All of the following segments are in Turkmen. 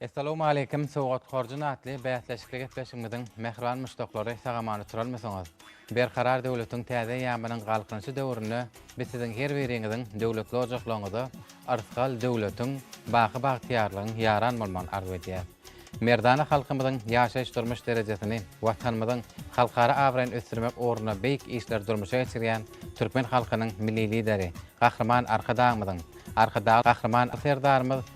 Essalowmaleýkim Sowgat-horjun atly bäsleşikli gepleşigimiziň mähriban muşdaklary sag-aman oturarmysyňyz? Berkarar döwletiň täze eýýamynyň Galkynyşy döwründe biz siziň her biriňiziň döwletli ojaklaryňyza yrsgal döwletiň, baky bagtyýarlygyň ýaran bolmagyny arzuw edýäris. Merdana halkymyzyň ýaşaýyş-durmuş derejesini, Watanymyzyň halkara abraýyny ösdürmek ugrunda beýik işleri durmuşa geçirýän türkmen halkynyň Milli Lideri, Gahryman Arkadagymyzyň, Arkadag Gahryman Serdarymyz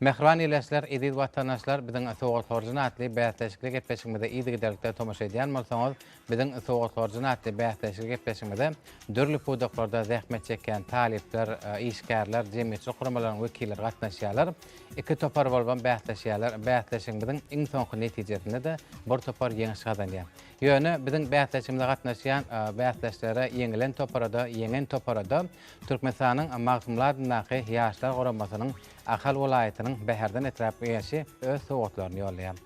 Mähriban ildeşler, eziz watandaşlar, biziň Sowgathorijin atly bäsleşikli gepleşigimize yzygiderlikde tomaşa edýän bolsaňyz, biziň Sowgathorijin atly bäsleşikli gepleşigimize dürli pudaklarda zähmet çekýän talyplar, işgärler, jemgyýetçilik guramalaryň wekilleri gatnaşýarlar. Iki topar bolubam bäsleşýärler. Bäsleşigimiziň iň soňky netijesinde-de bir topar ýeňiş gazanýar. Ýöne biziň bäsleşigimize gatnaşýan bäsdeşlere, ýeňilen topara-da, ýeňen topara-da Türkmenistanyň Magtymguly adyndaky Ýaşlar guramasynyň Ahal welaýatynyň Bäherden etrap Geňeşi öz sowgatlaryny ýollaýar.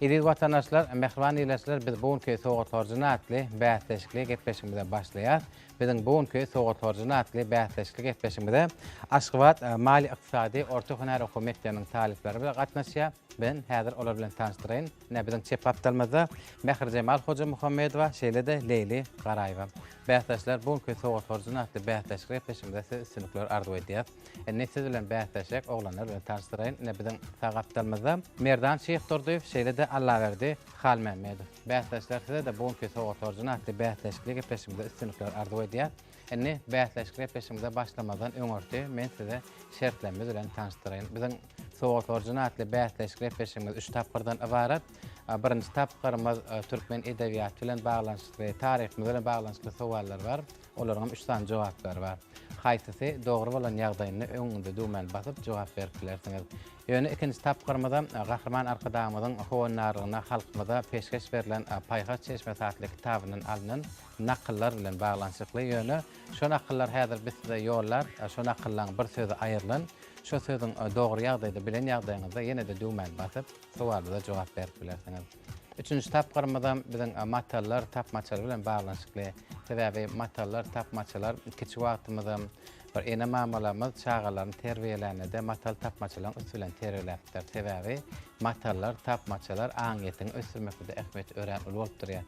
Eziz watandaşlar, mähriban ildeşler biz bu günki Sowgat horjuny atly bäsleşikli gepleşigimize başlaýas. Biziň bu günki Sowgat horjuny atly bäsleşikli gepleşigimize Aşgabat maliýe-ykdysady orta hünär okuw mekdebiniň talyplary bize gatnaşýar. Men häzir olar bilen tanyşdyraýyn. Ine biziň çep gapdalymyzda Mährijemal Hojamuhammedowa şeýle-de Leýli Garaýewa. Bäsdeşler bu günki Sowgat horjuny atly bäsleşikli gepleşigimize size üstünlikler arzuw edýäs. Indi siz bilen bäsleşjek oglanlar bilen tanyşdyraýyn. Ine biziň sag gapdalymyzda Merdan Şyhdurdyýew, şeýle-de Allaberdi Halmämmedow. Bäsdeşler size-de bu günki Sowgat orjany atly bäsleşikli gepleşigimizde üstünlikler arzuw edýär. Indi bäsleşikli gepleşigimize başlamazdan öňürti men size şertlerimiz bilen tanyşdyraýyn. Biziň Sowgat orjany atly bäsleşikli gepleşigimiz üç tapgyrdan ybarat. Birinji tapgyrymyz türkmen edebiýaty bilen baglanyşykly, taryhymyz bilen baglanyşykly sowallar bar. Olaryňam üç sany jogaplary bar. Haýsysy dogry bolan ýagdaýynda öňüňde düwmäni basyp jogap berip bilersiňiz. Ýöne ikinji tapgyrymyza Gahryman Arkadagymyzyň howandarlygyna halkymyza peşgeş berlen Paýhas çeşmesi atly kitabyndan alnan nakyllar bilen baglanyşykly. Ýöne şo nakyllar häzir biz size ýollap, şo nakyllaň bir sözi aýrylan. Şo sözüň dogry ýagdaýda bilen ýagdaýyňyzda ýene-de düwmäni basyp, sowalymyza jogap berip bilersiňiz. Üçünji tapgyrymyzam biziň matallar tapmaçalary bilen baglanyşykly. Sebäbi matallar tapmaçalar kiçi wagtymyzam bir ene-mamalarymyz çagalaryny terbiýelände-de matal tapmaçalaryň üsti bilen terbiýeläpdir. Sebäbi matallar, tapmaçalar aňyýetiňi ösdürmekde-de ähmiýeti örän uly bolup durýar.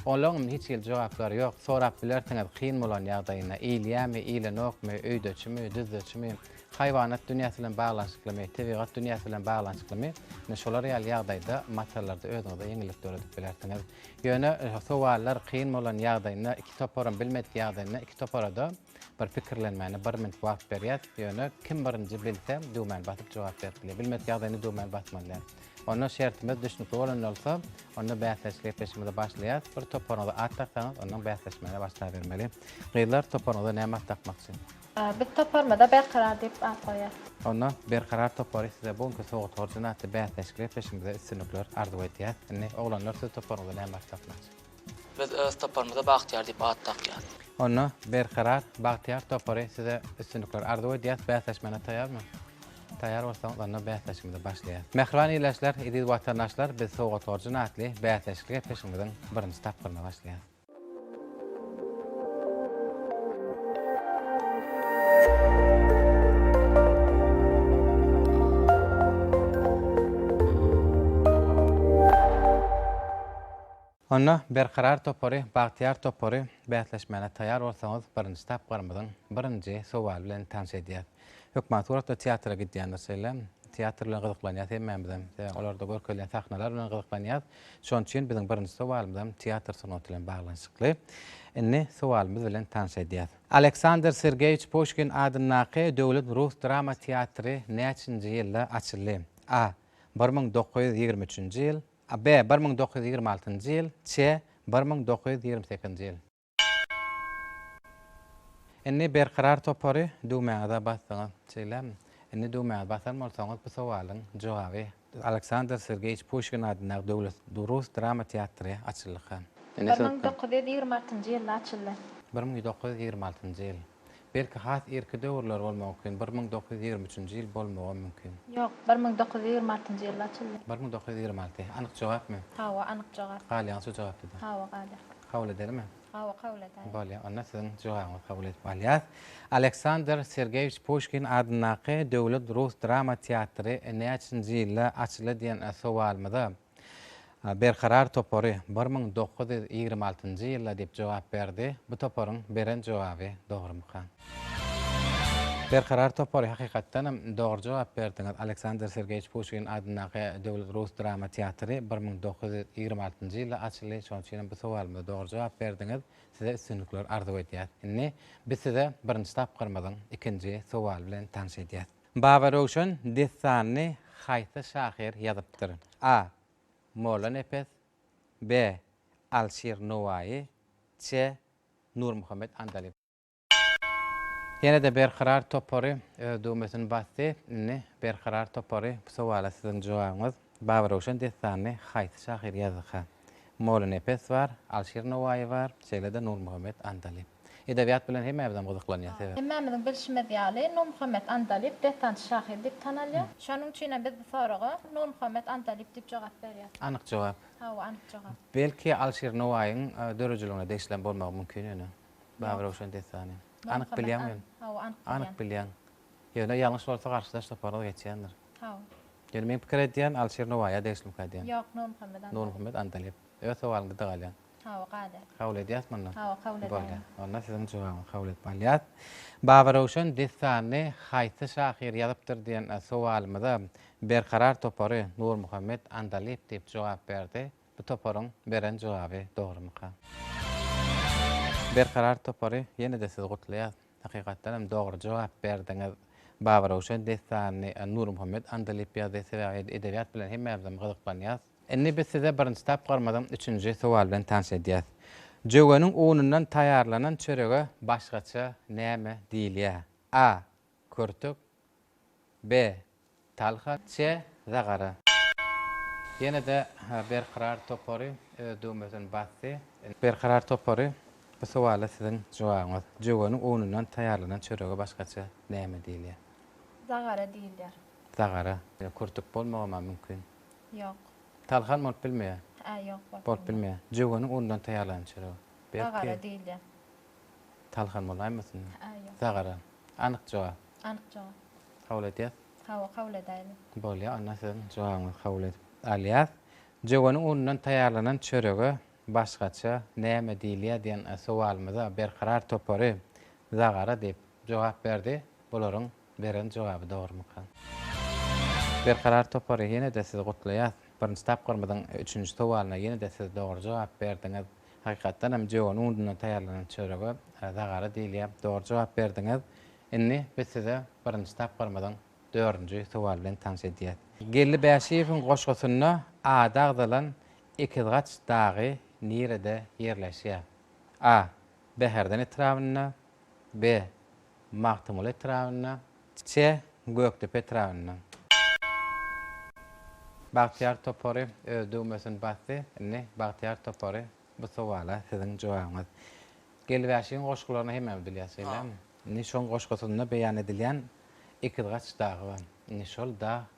Olaryňam hiç hili jogaplary ýok. Sorap bilersiňiz kyn bolan ýagdaýyny, iýilýärmi, iýilenokmy, öýdeçimi, düzdeçimi? Haýwanat dünýäsi bilen baglanyşyklymy, tebigat dünýäsi bilen baglanyşyklymy? Ine, şolar ýaly ýagdaýda materiallarda özüňize ýeňillik döredip bilersiňiz. Ýöne sowallar kyn bolan ýagdaýynda, iki toparam bilmedik ýagdaýynda, iki topara-da bir pikirlenmäne bir minut wagt berýäs. Ýöne kim birinji bilse, düwmäni basyp jogap berip bilýär. Bilmedik ýagdaýynda düwmäni basmaly däl. Onda şertimiz düşnükli bolan bolsa, onda bäsleşik gepleşigimize başlaýas. Bir toparyňyza at daksaňyz, ondan bäsleşmäne başlabermeli. Gyzlar, toparyňyza näme at dakmakçy? Biz toparymyza Berkarar diýip at goýýas. Onda Berkarar topary size bu günki sowgat borjuna atly bäsleşikli gepleşigimizde üstünlikler arzuw edýäs. Indi oglanlar siz toparyňyza näme at dakmaçy? Biz öz toparymyza Bagtyýar diýip at dakýas. Onda Berkarar, Bagtyýar topary size üstünlikler arzuw edýäs. Bäsleşmäne taýarmy? Taýar bolsaňyz onda bäsleşigimize başlaýas. Mähriban ildeşler, eziz watandaşlar biz sowgat borjuna atly bäsleşikli gepleşigimiziň birinji tapgyryna başlaýas. Onda Berkarar topary, Bagtyýar topary, bäsleşmäne taýýar bolsaňyz, birinji tapgyrymyzyň birinji sowaly bilen tanyş edýäs. Hökman suratda teatra gidýändir şeýle. Teatr bilen gyzyklanýas hemmämizem. Sebäbi olarda görkezilýän sahnalar bilen gyzyklanýas. Şonuň üçin biziň birinji sowalymyzam teatr sungaty bilen baglanyşykly. Indi sowalymyz bilen tanyş edýäs. Aleksandr Sergeýewiç Puşkin adyndaky Döwlet rus drama teatry näçinji ýylda açyldy? A. Bir müň dokuz ýüz ýigrimi üçünji ýyl, B. Bir müň dokuz ýüz ýigrimi altynjy ýyl, C. Bir müň dokuz ýüz ýigrimi sekizinji ýyl. Indi Berkarar topary düwmäňize basdyňyz, şeýlemi? Indi düwmäňizi basan bolsaňyz, bu sowalyň jogaby. Aleksandr Sergeýewiç Puşkin adyndaky döwlet rus drama teatry açyldyka. Bir müň dokuz ýüz ýigrimi altynjy ýylda açyldy. Bir müň dokuz ýüz ýigrimi altynjy ýyl. Belki has irki döwürler bolmagy mümkin, bir müň dokuz ýüz ýigrimi üçünji ýyl bolmagam mümkin. Ýok, bir müň dokuz ýüz ýigrimi altynjy ýylda açyldy. Bir müň dokuz ýüz ýigrimi alty. Anyk jogapmy? Hawa, anyk jogap. Galýaňy şu jogapda-da. Hawa, galýar. Kabul edelimi? Hawa, kabul edäýiň. Bolýar, onda siziň jogabyňyzy kabul edip alýas. Aleksandr Sergeýewiç Puşkin adyndaky Döwlet rus drama teatry näçinji ýylda açyldy diýen sowalymyza, Berkarar topary bir müň dokuz ýüz ýigrimi altynjy ýylda diýip jogap berdi. Bu toparyň beren jogaby dogrumyka? Berkarar topary hakykatdan hem dogry jogap berdiňiz. Aleksandr Sergeýewiç Puşkin adyndaky Döwlet rus drama teatry bir müň dokuz ýüz ýigrimi altynjy ýylda açyldy. Şonuň üçin hem bu sowalymyza dogry jogap berdiňiz. Size üstünlikler arzuw edýäs. Indi biz size birinji tapgyrymyzyň ikinji sowaly bilen tanyş edýäs. Babaröwşen dessanyny haýsy şahyr ýazypdyr? A. Mollanepes B. Alşir Nowaýy C. Nurmuhammet Andalyp. Ýene-de Berkarar topary öz düwmesini basdy. Indi Berkarar topary bu sowala siziň jogabyňyz. Babaröwşen dessanyny haýsy şahyr ýazdyka? Molynepes bar, Alşir Nowaýy bar, şeýle-de Nurmuhammet Andalyp. Edebiýat bilen hemmäbizem gyzyklanýar, sebäp. Hemmämiziň bilşimiz ýaly, Nurmuhammet Andalyp dessançy şahyr diýip tanalýar. Şonuň üçin hem biz bu soraga Nurmuhammet Andalyp diýip jogap berýäris. Anyk jogap. Hawa, anyk jogap. Belki Alşir Nowaýyň döredijiligine degişlem bolmagy mümkin ýöne, Babaröwşen dessany. Anyk bilýäňmi ýöne? Hawa, anyk bilýän. Anyk bilýäň. Ýöne ýalňyş bolsa garşydaş toparlar geçýändir. Sag bol. Ýöne meň pikir edýän Alşir Nowaýy ýa degişlimka edýän. Ýok Nurmuhammet Andalyp. Nurmuhammet Andalyp. Öz sowalyňda da galýaň. Hawa gade. Kabul edýäs mundan. Hawa kabul edäýin. Bolýa. Onda siziň jogabyňy kabul edip alýas. Babaröwşen dessanyny haýsy şahyr ýazypdyr diýen sowalymyza Berkarar topary Nurmuhammet Andalyp diýip jogap berdi. Bu toparyň beren jogaby dogrymyka? Berkarar topary ýene-de sizi gutlaýas. Hakykatdan hem dogry jogap berdiňiz. Babaröwşen dessanyny Nurmuhammet Andalyp ýazdy, sebäbi biz edebiýat bilen hemmämizem gyzyklanýas. Indi biz size birinji tapgyrymyzyň üçünji sowal bilen tanyş edýäs. Jöweniň unundan taýýarlanan çörege başgaça näme diýilýär? A. Körtük B. Talha çe za gara. Ýene-de Berkarar topary öz düwmesini basdy. Berkarar topary, bu sowala siziň jogabyňyz. Jöweniň unundan taýýarlanan çörege başgaça näme diýilýär? Zagara diýilýär. Zagara. Kürtük bolmagam-a mümkin. Ýok. Talha hem bolup bilmeýär. Hä, ýok, bolup bilmeýär. Bolup bilmeýär. Jöweniň unundan taýýarlanan çörege. Zagara diýilýär. Talhan bolaýmasyn? Ä, ýok. Sagara. Anyk jogap. Anyk jogap. Kabul etýäs? Hawa, kabul edäýeli. Bolýar, onda siziň jogabyňyzy kabul edip alýas. Jögeniň unundan taýýarlanan çörege başgaça näme diýilýär diýen sowalymyza Berkarar topary zagara diýip jogap berdi. Bularyň beren jogaby dogrumyka? Berkarar topary ýene-de sizi gutlaýas. Birinji tapgyrymyzyň üçünji sowalyna ýene-de siz dogry jogap berdiňiz. Hakykatdan hem jöwen undundan taýýarlanan çörege zagara diýilýär. Dogry jogap berdiňiz. Indi biz size birinji tapgyrymyzyň dördünji sowaly bilen tanyş edýäs. Geldi Bäşiýewiň goşgusynda ady agzalan Ekizgaç dagy nirede ýerleşýär? A. Bäherden etrabynda B. Magtymguly etrabynda Ççe, Gökdepe etrabynda. Bagtyýar topary öz düwmesini basdy. Indi Bagtyýar topary bu sowala siziň jogabyňyz. Gelibäşigiň goşgularyny hemmämiz bilýäs, şeýlemi? Indi şoň goşgusynda beýan edilýän Ekizgaç dagy bar. Indi şol dag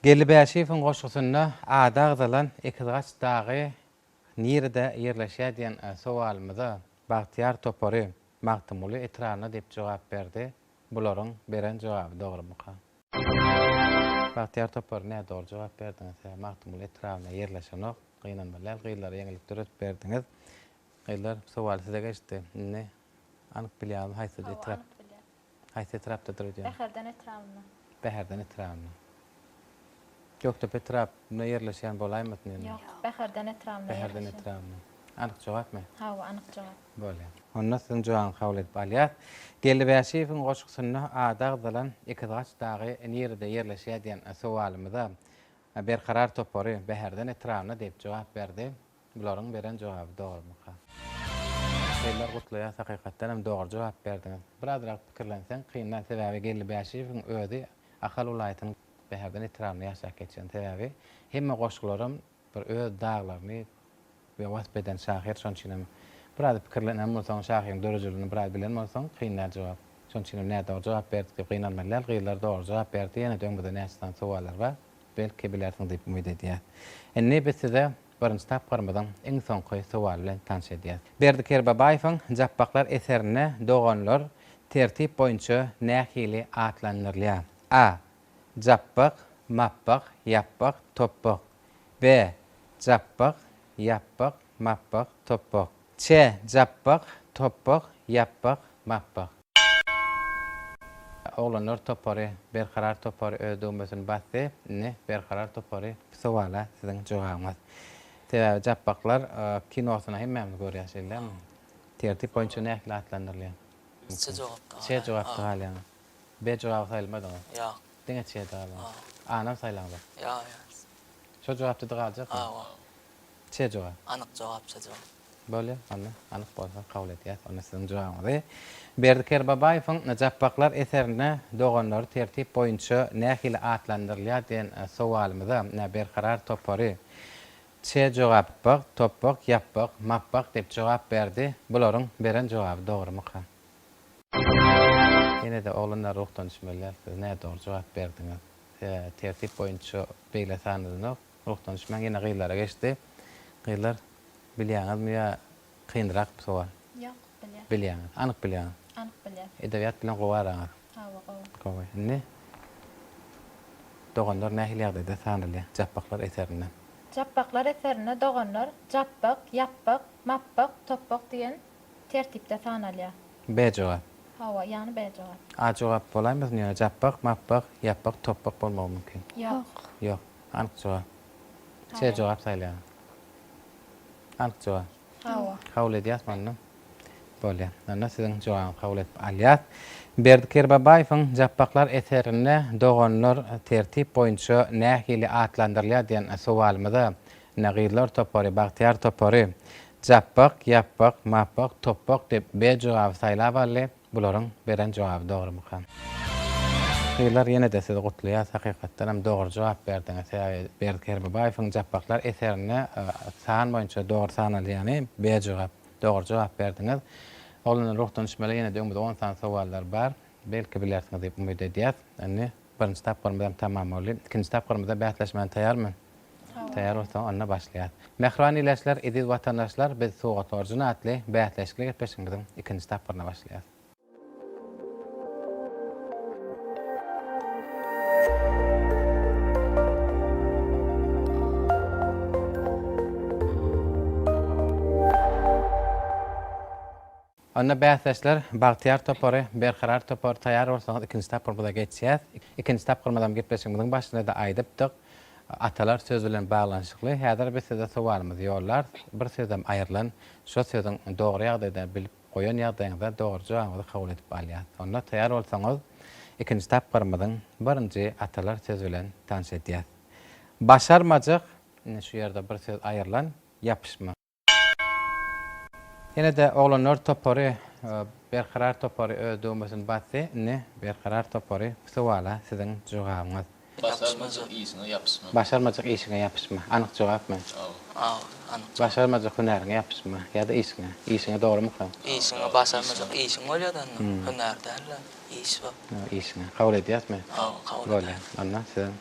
Geldi Bäşiýewiň goşgusynda ady agzalan Ekizgaç dagy nirede ýerleşýär diýen sowalymyza Bagtyýar topary Magtymguly etrabynda diýip jogap berdi. Bularyň beren jogaby dogrumyka? Bagtyýar topary nä dogry jogap berdiňiz hä Magtymguly etrabynda ýerleşenok. Gynanmaly däl gyzlara ýeňillik döredip berdiňiz. Gyzlar sowaly size geçdi. Indi anyk bilýäňizmi haýsy etrap? Haýsy etrapdadyr öýdýän? Bäherden etrabynda. Bäherden etrabynda. Gökdepe etrabynda ýerleşýän bolaýmasyn ýöne? Ýok, Bäherden etrabynda ýerleşýär. Bäherden etrabynda. Anyk jogapmy? Hawa, anyk jogap. Bolýar. Onda siziň jogabyňyzy kabul edip alýas. Geldi Bäşiýewiň goşgusynda ady agzalan Ekizgaç dagy nirede ýerleşýär diýen sowalymyza Berkarar topary Bäherden etrabynda diýip jogap berdi. Bularyň beren jogaby dogrymyka. Eller gutlaýas hakykatdan hem dogry jogap berdiňiz. Birazrak pikirlenseň kyn däl sebäbi Geldi Bäşiýewiň özi Ahal welaýatynyň Bäherden etrabynda ýaşap geçen sebäbi hemme goşgularam bir öz daglaryny we wasp eden şahyr şoň üçin hem biraz pikirlenen bolsaň şahyryň döredijiligini biraz bilen bolsaň kyn däl jogap şoň üçin hem nädogry jogap berdik diýip gynanmaly däl gyzlar dogry jogap berdi ýene-de öňüňizde näçe sany sowallar bar belki bilersiň diýip umyt edýäs indi biz size Birinji tapgyrymyzyň iň soňky sowaly bilen tanyş edýäs. Berdi Kerbabaýewiň Japbaklar eserinde doganlar tertip boýunça nähili atlandyrylýar? A. Japbak, Mapbak, Ýapbak, Topbak. B. Japbak, Ýapbak, Mapbak, Topbak. C. Japbak, Topbak, Ýapbak, Mapbak. Oglanlar topary Berkarar topary öz döwmesini basdy, indi Berkarar topary bu sowala siziň jogabyňyz. Sebäbi Japbaklar kinosyny hemmämiz görýäs şeýle tertip boýunça nähili atlandyrylýar? Çe jogapda galýar. Çe jogapda galýar. B jogaby saýylmadyňyz. Ýok. Diňe çe-de galýar. A-nam saýlaňyzok. Ýok ýok. Şo jogapda-da galjak. Hawa. Çejuwa. Anyk jogap Çejuwa. Bolýa onda, anyk bolsa kabul edýäs onda siziň jogabyňyzy. Berdi Kerbabaýewiň Japbaklar eserinde doganlary tertip boýunça nähili atlandyrylýar diýen sowalymyza nä Berkarar topary Çejogapbak, Topbak, Ýapbak, Mapbak diýip jogap berdi. Bularyň beren jogaby dogrumyka? Ýene-de oglanlar ruhdan düşmeliler. Siz nädogry jogap berdiňiz. Size tertip boýunça beýle sanlanok. Ruhdan düşmän ýene gyzlara geçdi. Gyzlar, bilýäňizmi ýa kynrak bu sowal? Ýok, bilýän. Bilýäňiz. Anyk bilýäňiz. Anyk bilýän. Edebiýat bilen gowy araňyz? Hawa, gowy. Gowy. Indi Doganlar nähili ýagdaýda tanalýar Japbaklar eserinde? Japbaklar eserinde doganlar Japbak, Ýapbak, Mapbak, Topbak diýen tertipde tanalýar. B jogap. Hawa, ýagny B jogap. A jogap bolaýmasyn ýöne Japbak, Mapbak, Ýapbak, Topbak bolmagy mümkin. Ýok. Ýok. Anyk-juwa. Şeýle jogap saýlaýan. Anyk-juwa. Hawa. Kabul edýäsmi onda? Bolýar. Onda siziň jogabyňyzy kabul edip alýas. Berdi Kerbabaýewiň Japbaklar eserinde doganlar tertip boýunça nähili atlandyrylýar diýen sowalymyza ine gyzlar topary, bagtyýar topary Japbak, Ýapbak, Mapbak, Topbak diýip B jogaby saýlap aldy. Bularyň beren jogaby dogrymyka. Gyzlar ýenede sizi gutlaýas hakykatdanam dogry jogap berdiňiz sebäbi Berdi Kerbibaýewiň Japbaklar eserinde san boýunça dogry sanalýany B jogap dogry jogap berdiňiz Oglanlar ruhdan uçmaly ýenede öňümizde on sany sowallar bar belki bilersiňiz diýip umyt edýäs indi Birinji tapgyrymyz hem tamam boldy. Ikinji tapgyrymyza bäsleşmäne taýarmy? Taýar. Taýar bolsaň, onda başlaýas. Mähriban ildeşler, eziz watandaşlar, biz Surat orjin atly bäsleşikli gepleşigimiziň ikinji tapgyryna başlaýas. Onda bäsdeşler Bagtyýar topary, Berkarar topary taýýar bolsaňyz ikinji tapgyrymyza geçýäs. Ikinji tapgyrymyzam gepleşigimiziň başynda-da aýdypdyk. Atalar söz bilen baglanyşykly. Häzir biz size sowalymyzy ýollarys. Bir sözem aýrylan. Şo sözüň dogry ýagdaýda bilip goýan ýagdaýyňyzda dogry jogabyňyzy kabul edip alýas. Onda taýýar bolsaňyz ikinji tapgyrymyzyň birinji atalar söz bilen tanyş edýäs. Başarmajak, indi şu ýerde bir söz aýrylan, ýapyşma. Ýene-de oglanlar topary Berkarar topary öz döwmesini basdy, indi Berkarar topary bu sowala siziň jogabyňyz. Başarmajak işiňe ýapyşma. Başarmajak işiňe ýapyşma. Anyk jogapmy? Aw. Aw, anyk jogap. Başarmajak hünäriňe ýapyşma ýa-da işiňe. Işiňe dogrumyka? Işiňe başarmajak işiň bolýar-da onda. Hünär däl-de, iş bu. Işiňe. Kabul edýäsmi? Aw, kabul edýäs. Bolýar. Onda siziň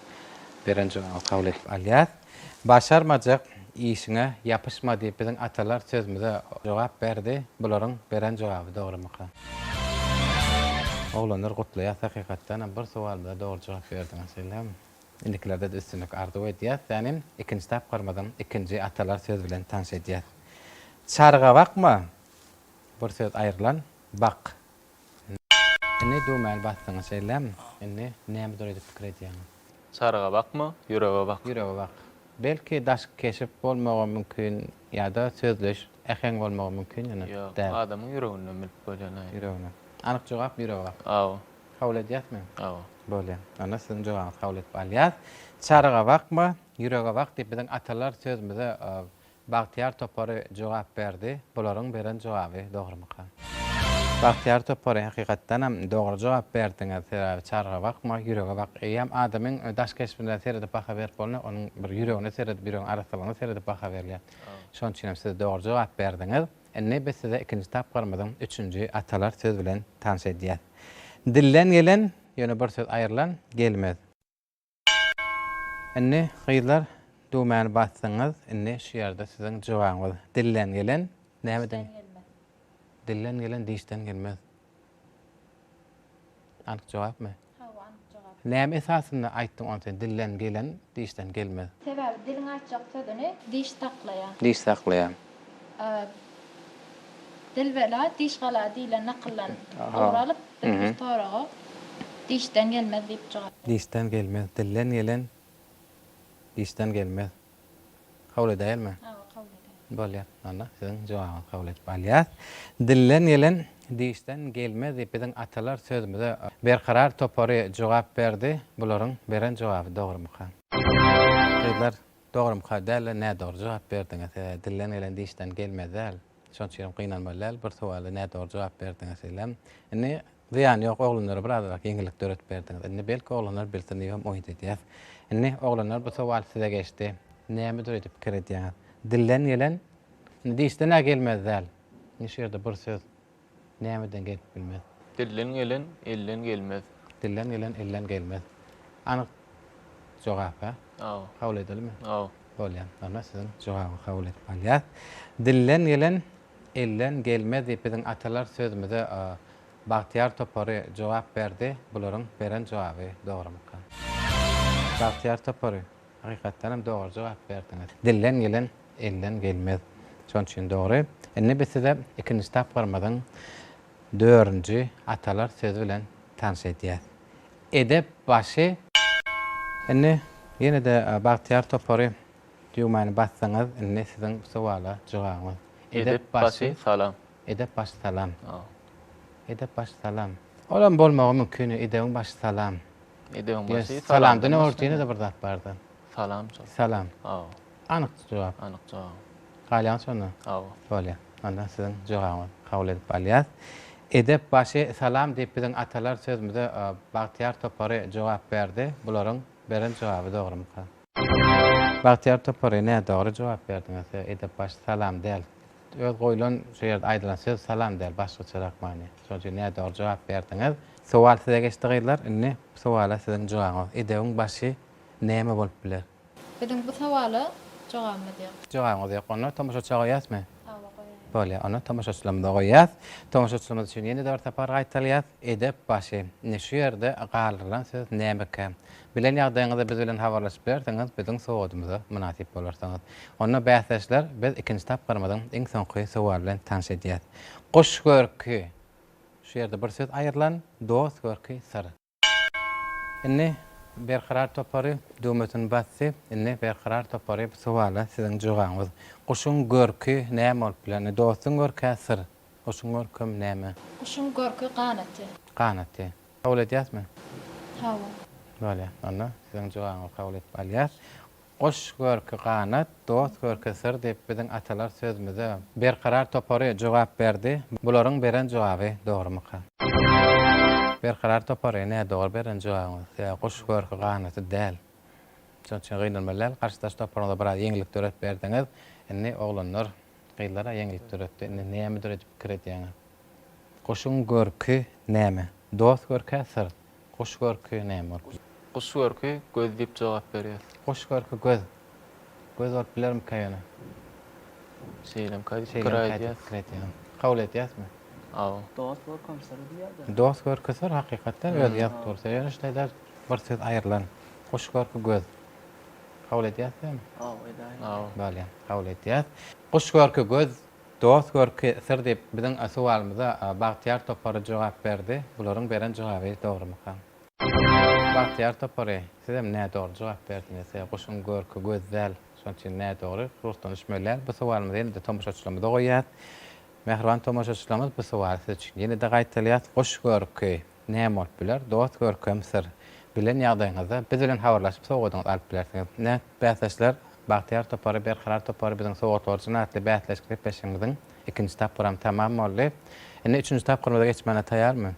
beren jogabyňyzy kabul edip alýas. Başarmajak işiňe ýapyşma diýip biziň atalar sözümize jogap berdi. Bularyň beren jogaby dogrymyka? Oglanlar gutlaýas hakykatdan hem bir sowalymyza dogry jogap berdiňiz elhem. Indikilerde-de üstünlik arzuw edýäs. Sänem ikinji tapgyrymyzyň ikinji atalar sözi bilen tanş edýäs. Çargabakma bir söz aýrylan bak Indi düwmäni basdyňyz şeýlemi? Indi näme dur edip pikir edýäňiz? Çaryga bakma, ýürege bak. Ýürege bak. Belki daşky keşip bolmagam mümkin ýa-da sözleýiş, äheň bolmagam mümkin ýöne Ýok, däl. adamyň ýüreginden bilip bolýan aýdym. Ýüreginden. Anyk jogap ýürege bak. Hawa. Kabul edýäsmi? Hawa. Bolýar. Onda siziň jogabyňyzy kabul edip alýas. Çaryga bakma, ýürege bak diýip biziň atalar sözümize Bagtyýar topary jogap berdi. Bularyň beren jogaby dogrumyka? Bagtyýar topary hakykatdanam dogry jogap berdiňiz. Sebäbi çarga bakma, ýürege bak. Eýýäm adamyň daş keşbine seredip baha berip bolunok, onuň bir ýüregine seredip, ýüregiň arassalygyna seredip baha berilýär. Şonuň üçin hem siz dogry jogap berdiňiz. Indi biz size ikinji tapgyrymyzyň üçünji atalar söz bilen tanyş edýäs. Dilden gelen, ýöne bir söz aýrylan, gelmez. Indi gyzlar düwmäni basdyňyz indi şu ýerde siziň jogabyňyz dilden gelen näme diýen dilden gelen dişden gelmez anyk jogapmy Hawa anyk jogap näme esasynda aýtdyň ony sen dilden gelen dişden gelmez. Sebäbi diliň aýtjak sözüni diş saklaýa. Diş saklaýa. Dilbela diş gala diýlen nakyldan ugur alyp, biz bir soraga Dişden gelmez diýip jogap. Dişden gelmez. Dilden gelen dişden gelmez. Kabul edäýelmi? Hawa, kabul edäýeli. Bolýar. Onda siziň jogabyňyzy kabul edip alýas. Dilden gelen dişden gelmez diýip biziň atalar sözümize Berkarar topary jogap berdi. Bularyň beren jogaby dogrumyka? Gyzlar, Dogrymyka däl-de nädogry jogap berdiňiz. Dilden gelen dişden gelmez däl. Şonuň üçin hem gynanmaly däl. Bir sowala nädogry jogap berdiňiz sizem. Indi zyýany ýok oglanlara birazrak ýeňillik döredip berdiňiz. Indi belki oglanlar bilsin diýibem umyt edýäs. Indi oglanlar bu sowal size geçdi. Näme düredi pikir edýäňiz? Dilden gelen dişden-ä gelmez däl. Indi şu ýerde bir söz. nämeden gelip bilmez? Dilden gelen elden gelmez. Dilden gelen elden gelmez. Anyk jogap-a? Aw. Kabul edelimi? Aw. Bolýar. Onda siziň jogaby kabul edip alýas. Dilden gelen elden gelmez diýip biziň atalar sözümize Bagtyýar topary jogap berdi. Bularyň beren jogaby dogrumyka? Bagtyýar topary. Hakykatdanam dogry jogap berdiňiz. Dilden gelen elden gelmez. Şonuň üçin dogry. Indi biz size ikinji tapgyrymyzyň dördünji atalar sözi bilen tanyş edýäs. Edep başy. Indi ýene-de Bagtyýar topary düwmäni basdyňyz. Indi siziň bu sowala jogabyňyz. Edep başy salam. Edep başy salam. Edep başy salam. Olam bolmagy mümkin, edebiň başy salam. Edebiň başy salam. Salamdan ortynda bir zat bardy. Salam. Salam. Aw. Anyk jogap. Anyk jogap. Galýan şonda. Aw. Bolýar. Onda siziň jogabyňyzy kabul edip alýas. Edep başy salam diýip biziň atalar sözümize Bagtyýar topary jogap berdi. Bularyň beren jogaby dogrumyka? Bagtyýar topary nädogry jogap berdiňiz söz edep baş salam däl öz goýlan şu ýerde aýdylan söz salam däl başgaçarak many şonuň üçin nädogry jogap berdiňiz sowal size geçdi gyzlar indi bu sowala siziň jogabyňyz edebiň başy näme bolup biler. Biziň bu sowala jogabymyz ýok. Jogabyňyz ýok onda tomaşaça goýýasmy? Hawa goýaýyň. Bolýar onda tomaşaçylarymyza goýýas tomaşaçylarymyz üçin ýene-de bir sapar gaýtalýas edep başy indi şu ýerde galdyrylan söz nämekä Bilen ýagdaýyňyzy biz bilen habarlaşyp bilersiňiz, biziň sowadymyza mynasyp bolarsyňyz. Onda bäsdeşler, biz ikinji tapgyrymyzyň iň soňky sowaly bilen tanyş edýäs. Goş görki, şu ýerde bir söz aýrylan, dost görki, syr. Indi Berkarar topary düwmesini basdy. Indi Berkarar topary bu sowala siziň jogabyňyz. Guşuň görki näme bolup biler? Indi dostuň görki-ä syr. Guşuň görkem näme? Guşuň görki ganaty. Ganaty. Kabul edýäsmi? Hawa. Bolýa. Onda siziň jogabyňyzy kabul edip alýas. Guş görki ganat, dost görki syr diýip biziň atalar sözümize Berkarar topary jogap berdi. Bularyň beren jogaby dogrumyka? Berkarar topary nädogry beren jogabyňyz. Sebäbi guş görki ganaty däl. Şonuň üçin gynanmaly däl. Garşydaş toparyňyza biraz ýeňillik döretip berdiňiz. Indi oglanlar Gyzlar-a ýeňilip döretdi. Indi nämedir edip pikir edýäňä. Guşuň görki näme? Dost görki-ä syr. Guş görki näme bolup biler? Guş görki göz diýip jogap berýär. Guş görki göz. Göz bolup bilermika ýöne? Şeýlemka diýip pikir aýdýas. Şeýlemka diýip pikir edýän. Kabul edýäsmi? Hawa. Dost görkem syr diýýär dä. Dost görki syr hakykatdan özi ýazyp dursa ýöne şeýle-de bir söz aýrylan. Guş görki göz. Kabul edýäs diýýämi? Haw, edäýiň. Haw. Bolýa, kabul edýäs. Guş görki göz, dost görki syr diýip, biziň sowalymyza Bagtyýar topary jogap berdi. Bularyň beren jogaby dogrumyka? Bagtyýar topary, sizem nädogry jogap berdiňiz. Guşuň görki göz däl, şonuň üçin nädogry. Ruhdan düşmelýär. Bu sowalymyzy ýene-de tomaşaçylarymyza goýýas. Mähriban tomaşaçylarymyz, bu sowaly siz üçin ýene-de gaýtalýas. Guş görki. Näme bolup biler? Dost Görkem Syr, bilen ýagdaýyňyzda biz bilen habarlaşyp sowgadyňyzy alyp bilersiňiz. Nä? Bäsdeşler Bagtyýar topary, Berkarar topary biziň Sowgat orjany atly bäsleşik gepleşigimiziň ikinji tapgyram tamam boldy. Indi üçünji tapgyrymyza geçmäne taýarmy?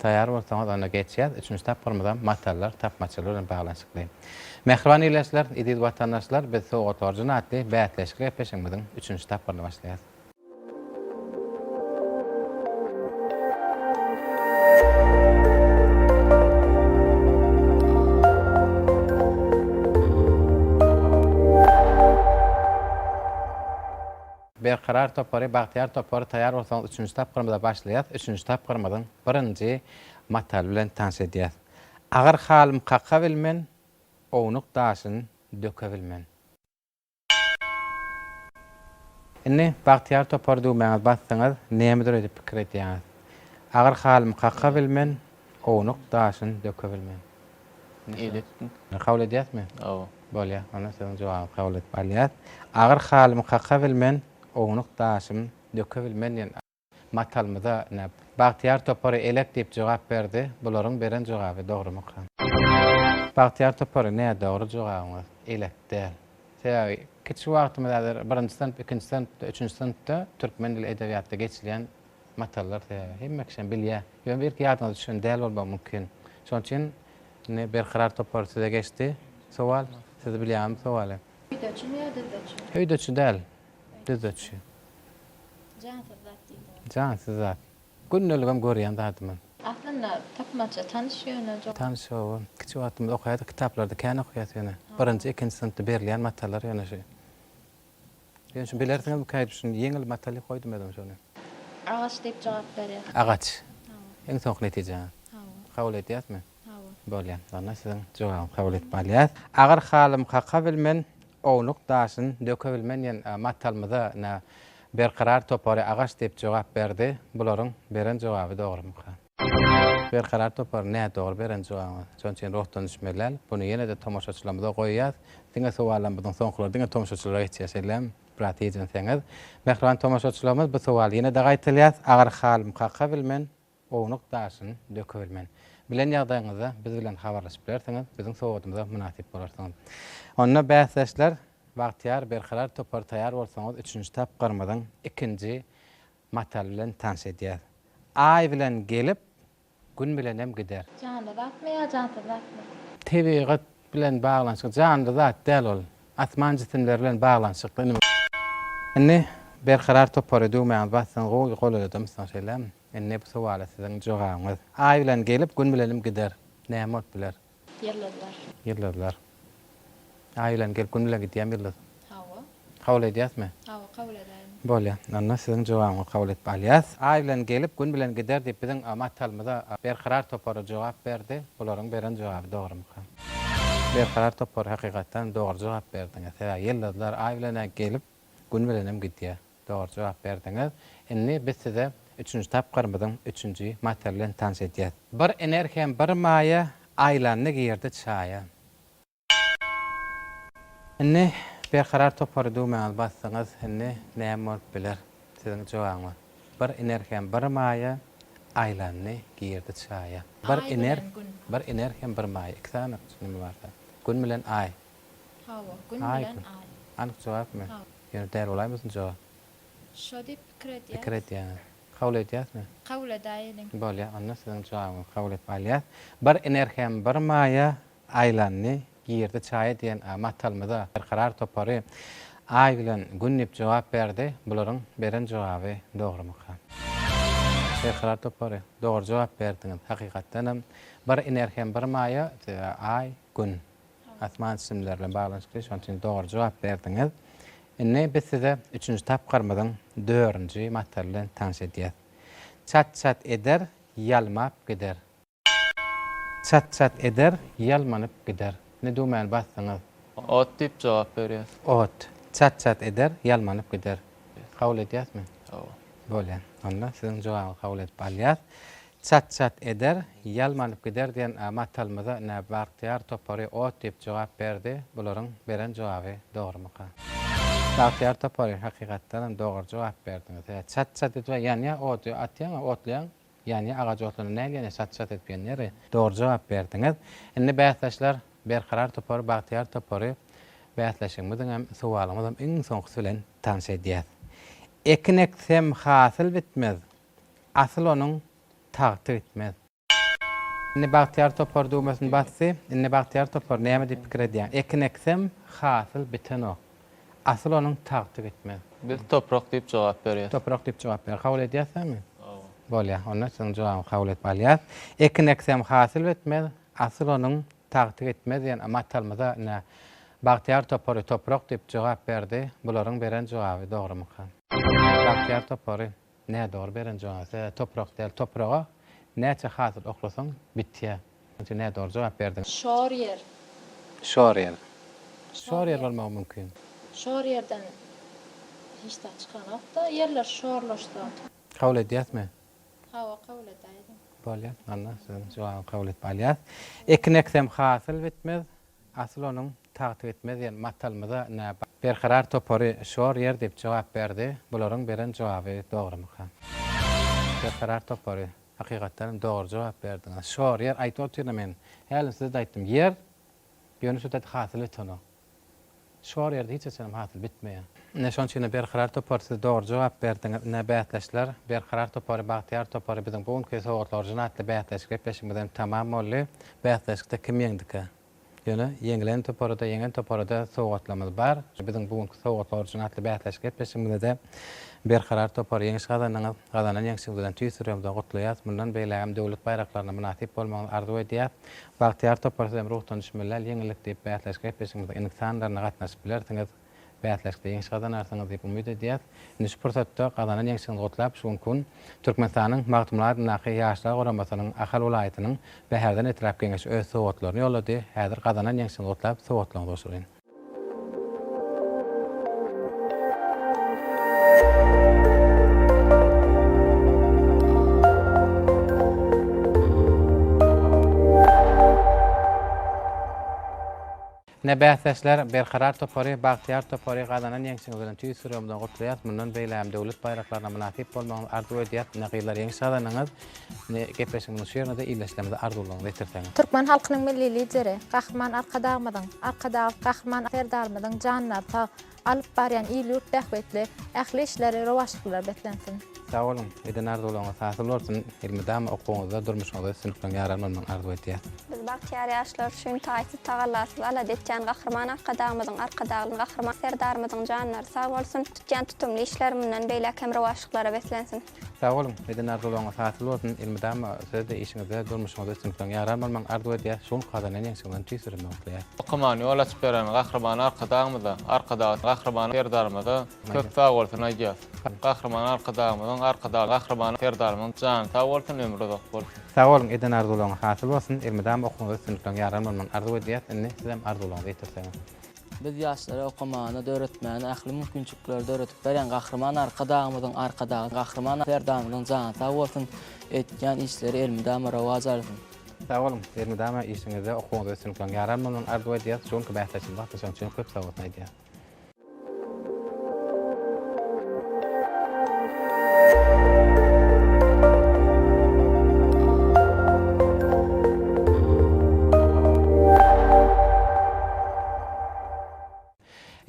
Taýar bolsaňyz onda geçýäs. Üçünji tapgyrymyzam matallar tapmaçlygy bilen baglanyşykly. Mähriban ildeşler, eziz watandaşlar biz Sowgat orjany atly bäsleşik gepleşigimiziň üçünji tapgyryny başlaýas. Berkarar topary Bagtyýar topary taýýar bolsaňyz üçünji tapgyrymyza başlaýas üçünji tapgyrymyzyň birinji mataly bilen tanyş edýäs Agyr halym kaka bilmen ownuk daşyn döke bilmen. Indi bagtyýar topar düwmäňiz basdyňyz, nämedir öýdüp pikir edýäňiz. Agyr halymy kaka bilmen, ownuk daşyny döke bilmen. Eýle etdim. Kabul edýäsmi? Hawa. Bolýar, onda siziň jogabyňyzy kabul edip alýas. Agyr halymy kaka bilmen, ownuk daşyny döke bilmen diýen. Matalmyda näp? Bagtyýar topary elek diýip jogap berdi. Bularyň beren jogaby dogrumyka? Bagtyýar topary nä dogry jogabyňyz elek däl. Sebäbi kiçi wagtymyz häzir birinji synp, ikinji synpda, üçünji synpda türkmen dili edebiýatda geçilýän matallar sebäbi hemme kişem bilýä. Ýöne belki ýadyňyza düşen däl bolmagy mümkin. Şonuň üçin indi Berkarar topar size geçdi sowal. Siz bilýäňizmi sowaly? Höýdeçimi ýa düzdeçimi? Höýdeçi däl. Düzüçi. Jansyz zat diýdi ol. Jansyz zat. Gündeligem görýän zadymyz. Aslynda tapmaça tanyş ýöne jogap. Tanyş jogap. Kiçi wagtymyzda okaýardyk kitaplarda kän okaýas ýöne. Birinji, ikinji synpda berilýän matalar ýöne şu. Ýöne şu bilersiňizmi käýdip şuny ýeňil mataly goýdum özüm şuny. Agaç diýip jogap berýär. Agaç. Iň soňky netijä. Kabul edýäsmi? Bolýanlaryna siziň jogabyňyzy kabul edip alýas. Agyr halym kaka bilmen, ownuk daşyn döke bilmen diýen matalymyza nä Berkarar topary agaç diýip jogap berdi. Bularyň beren jogaby dogrumyka? Berkarar topary nädogry beren jogabyňyz. Şonuň üçin ruhdan düşmeliäl. Buny ýene-de tomaşaçylarymyza goýýas. Diňe sowallaryň biziň soňkulary diňe tomaşaçylara geçýär. Şeýlem biraz hijenseňiz. Mähriban tomaşaçylarymyz bu sowaly ýene-de gaýtalýas. Agyr halym kaka bilmen, Ownuk daşyny dökebil men. Bilen ýagdaýyňyzda biz bilen habarlaşyp bilersiňiz, biziň sowadymyza mynasyp bolarsyňyz. Onda bäsdeşler Bagtyýar Berkarar topary taýar bolsaňyz üçünji tapgyrymyzyň ikinji mataly bilen tanyş edýäs. Aý bilen gelip, Gün bilenem gider. Janly zatmy ýa jansyz zatmy? Tebigat bilen baglanyşykly janly zat däl ol. Asman jisimleri bilen baglanyşykly. Indi Berkarar topary düwmäňizi bassaňyz gowy goladadymyzsoň şeýlemi? Indi bu sowala siziň jogabyňyz. Aý bilen gelip, Gün bilenim gider. Näme bolup biler? Ýyldyzlar. Ýyldyzlar. Aý bilen gelip, Gün bilen gidýärmi ýyldyz? Hawa. Kabul edýäsmi? Hawa, kabul edäýin. Bolýar. Onda siziň jogabyňyzy kabul edip alýas. Aý bilen gelip, Gün bilen gider diýip biziň Matalymyza Berkarar topary jogap berdi. Bularyň beren jogaby dogrumyka? Berkarar topary hakykatdanam dogry jogap berdiňiz. Sebäbi ýyldyzlar Aý bilen-ä gelip, Gün bilenem gidýär. Dogry jogap berdiňiz. Indi biz size üçünji tapgyrymyzyň üçünji matyr bilen tanyş edýäs. Bir iner hem bir maýa, Aýlandy girdi çaýa. Indi Berkarar topary düwmäňizi basdyňyz. Indi näme bolup biler? Siziň jogabyňyz. Bir iner hem bir maýa, Aýlandy girdi çaýa. Bir iner, bir iner hem bir maýa. Iki sany neme barda. Gün bilen aý. Hawa, gün bilen aý. Anyk jogapmy? Ýöne däl bolaýmasyn jogap. Şo diýip pikir edýäs. Pikir edýäňiz. Kabul edýäsmi? Kabul edäýeliň. Bolýar, onda siziň jogabyňyzy kabul edip alýas. Bir iner hem bir maýa aýlandy, girdi çaýa diýen matalymyza Berkarar topary Aý bilen Gün diýip jogap berdi. Bularyň beren jogaby dogrumyka? Berkarar topary, dogry jogap berdiňiz. Hakykatdanam, bir iner hem bir maýa, Aý, Gün. Asman simler bilen baglanyşykly, şonuň üçin dogry jogap berdiňiz. Indi biz size üçünji tapgyrymyzyň dördünji mataly bilen tanyş edýäs. Çat-çat eder, ýalmap gider. Çat-çat eder, ýalmanyp gider. Indi düwmäni basdyňyz. Ot diýip jogap berýäs. Ot. Çat-çat eder, ýalmanyp gider. Kabul edýäsmi? Hawa. Bolýar. Onda siziň jogabyňyzy kabul edip alýas. Çat-çat eder, ýalmanyp gider diýen matalymyza nä Bagtyýar topary ot diýip jogap berdi, bularyň beren jogaby dogrumyka? Bagtyýar topary, hakykatdanam dogry jogap berdiňiz. Hä, çat-çat edip ýanýar, ody atýaň-a, otlaýaň, ýanýar, agaç otlanda nähili ýanýar, çat-çat edip ýanýar. Dogry jogap berdiňiz. Indi bäsdeşler, Berkarar topary, Bagtyýar topary bäsleşigimiziň hem, sowalymyzyň hem iň soňkusy bilen tanyş edýäs. Ekin eksem, hasyl bitmez, Asyl onuň tagty gitmez. Indi Bagtyýar topar düwmesini basdy. Indi Bagtyýar topar näme diýip pikir edýär? Ekin eksem, hasyl bitenok. Asyl onuň tagty gitmez. Biz toprak diýip jogap berýäs. Toprak diýip jogap ber. Kabul edýäsizmi? Hawa. Bolýar. Onda siziň jogabyňyzy kabul edip alýas. Ekin eksem, hasyl bitmez. Asyl onuň tagty gitmez diýen matalymyza ine Bagtyýar topary toprak diýip jogap berdi. Bularyň beren jogaby dogrumyka? Bagtyýar topary Nä dogry beren jogap e toprak däl topraga näçe hasyl oklasaň bitýä onçe nä dogry jogap berdiň. Şor ýer. Şor ýer. Şor ýer bolmagy mümkin. Şor ýerden hiç zat çykanokda ýerler şorlaşsa. Kabul edýäsmi. Hawa kabul edäýdim. Bolýa anna siziň jogaby kabul edip alýas. Ekin eksem hasyl bitmez. Asyl onuň tagty gitmez diýen matalymyza nä bar? Berkarar topary şor ýer diýip jogap berdi. Bularyň beren jogaby dogrumyka? Berkarar topary, hakykatdan hem dogry jogap berdiňiz. Şor ýer aýdyp otyryn men. Hälim size-de aýtdym. Ýer, ýöne şu dek hasyl ýetenok. Şor ýerde hiç haçanam hasyl bitmeýär. Ine şonuň üçin-de Berkarar topar siz dogry jogap berdiňiz. Ine bäsdeşler Berkarar topary, Bagtyýar topary biziň bu günki Sowgatly orjin atly bäsleşik gepleşigimiz hem tamam boldy. Bäsleşikde kim ýeňdika? Ýöne ýeňilen toparada, ýeňen toparada sowgatlarymyz bar. Biziň bu günki Sowgatly orjin atly bäsleşik gepleşigimizde-de Berkarar topar ýeňiş gazandyňyz. Gazanan ýeňşiňiz bilen tüýs ýüregimizden gutlaýas. Mundan beýlägem döwlet baýraklaryna mynasyp bolmagyňyzy arzuw edýäs. Bagtyýar topar sizem ruhdan düşmeläl ýeňillik diýip bäsleşik gepleşigimize iňlis sanlarynda gatnaşyp bilersiňiz. Bäsleşikde ýeňiş gazanarsyňyz diýip umyt edýäs. Indi şu pursatda gazanan ýeňşiňizi gutlap şu günki gün Türkmenistanyň Magtymguly adyndaky Ýaşlar guramasynyň Ahal welaýatynyň Bäherden etrap Geňeşi öz sowgatlaryny ýollady. Häzir gazanan ýeňşiňizi gutlap sowgatlaryňyzy gowşuraýyn. Ne bäsdeşler, Berkarar topary, Bagtyýar topary gazanan ýeňşiňiz bilen tüýs ýüregimden gutlaýas, mundan beýlägem döwlet baýraklaryna mynasyp bolmagyňyzy arzuw edýäs, ne gyzlar ýeňiş gazanyňyz. Indi gepleşigimiziň şu ýerine-de ildeşlerimize arzuwlaryňyzy ýetirseňiz. Türkmen halkynyň Milli Lideri, Gahryman Arkadagymyzyň, Arkadagly Gahryman Serdarymyzyň janlary sag, alyp barýan il-ýurt bähbitli ähli işleri rowaçlyklar beslensin! Sag boluň! Eden arzuwlaryňyz hasyl bolsun! Elmydama okuwyňyzda, durmuşyňyzda üstünlikleriň ýar almalydygyny arzuw edýäs! Biz bagtyýar ýaşlar üçin taýsyz tagallasyz alada etýän Gahryman Arkadagymyzyň, Arkadagly Gahryman Serdarymyzyň janlary sag bolsun, tutýan tutumly işleri mundan beýläk hem rowaçlyklara beslensin! Sag boluň, eden arzuwlaryňyz hasyl bolsun, elmydama siz-de işiňizde, durmuşyňyzda üstünlikleriň ýaran bolmagyny arzuw edýäs, şu günki gazanan ýeňşiňizden tüýs süreme gutlaýas. Okamana ýol açyp beren Gahryman Arkadagymyza, Arkadagly Gahryman Serdarymyza köp sag bolsun aýdýas. Gahryman Arkadagymyzyň, Arkadagly Gahryman Serdarymyzyň jany sag bolsun, ömri uzak bolsun. Sag boluň, eden arzuwlaryňyz hasyl bolsun, elmydama okuwyňyzda üstünlikleriň ýaran bolmagyny arzuw edýäs, indi sizem arzuwlaryňyzy ýetirseňiz. Biz ýaşlara okamagyny, döretmäni ähli mümkinçilikleri döredip berýän Gahryman Arkadagymyzyň, Arkadagy Gahryman Serdarymyzyň jany sag bolsun, edýän işleri elmydama rowaç alsyn! Sag boluň, elmydama işiňizde, okuwyňyzda üstünlikler ýar almagyny arzuw edýäris, şu günki bäsleşigiň wagty şonuň üçin hem köp sag bolsun aýdýarys.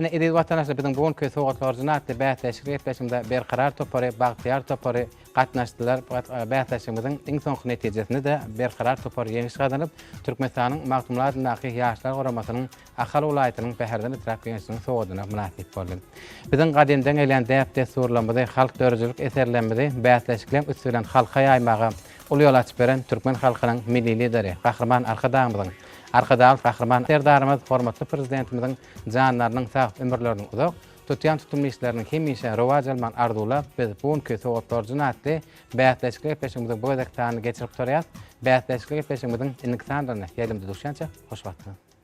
Ine, eziz watandaşlar, biziň bu günki sowgat horjuna atly bäsleşik gepleşiginde Berkarar topary, Bagtyýar topary gatnaşdylar. E, bäsleşigimiziň iň soňky netijesinde-de Berkarar topary ýeňiş gazanyp, Türkmenistanyň Magtymguly adyndaky Ýaşlar guramasynyň Ahal welaýatynyň Bäherden etrap Geňeşiniň sowadyna mynasyp boldy. Biziň gadymdan gelýän däp-dessurlarymyzy, halk döredijilik eserlerimizi bäsleşikleň üsti bilen halka ýaýmaga uly ýol açyp beren türkmen halkynyň Milli Lideri, Gahryman Arkadagymyzyň, Arkadagly Gahryman Serdarymyz, hormatly Prezidentimiziň janlarynyň sag, ömürleriniň uzak, tutýan tutumly işleriniň hemişe rowaç almagyny arzuwlap, biz bu günki Sowat borjun atly bäsleşikli gepleşigimiziň bu gezekki sanyny geçirip gutarýas. Bäsleşikli gepleşigimiziň indiki sanlaryna ýaýlymda duşýança hoş wagtyňyz!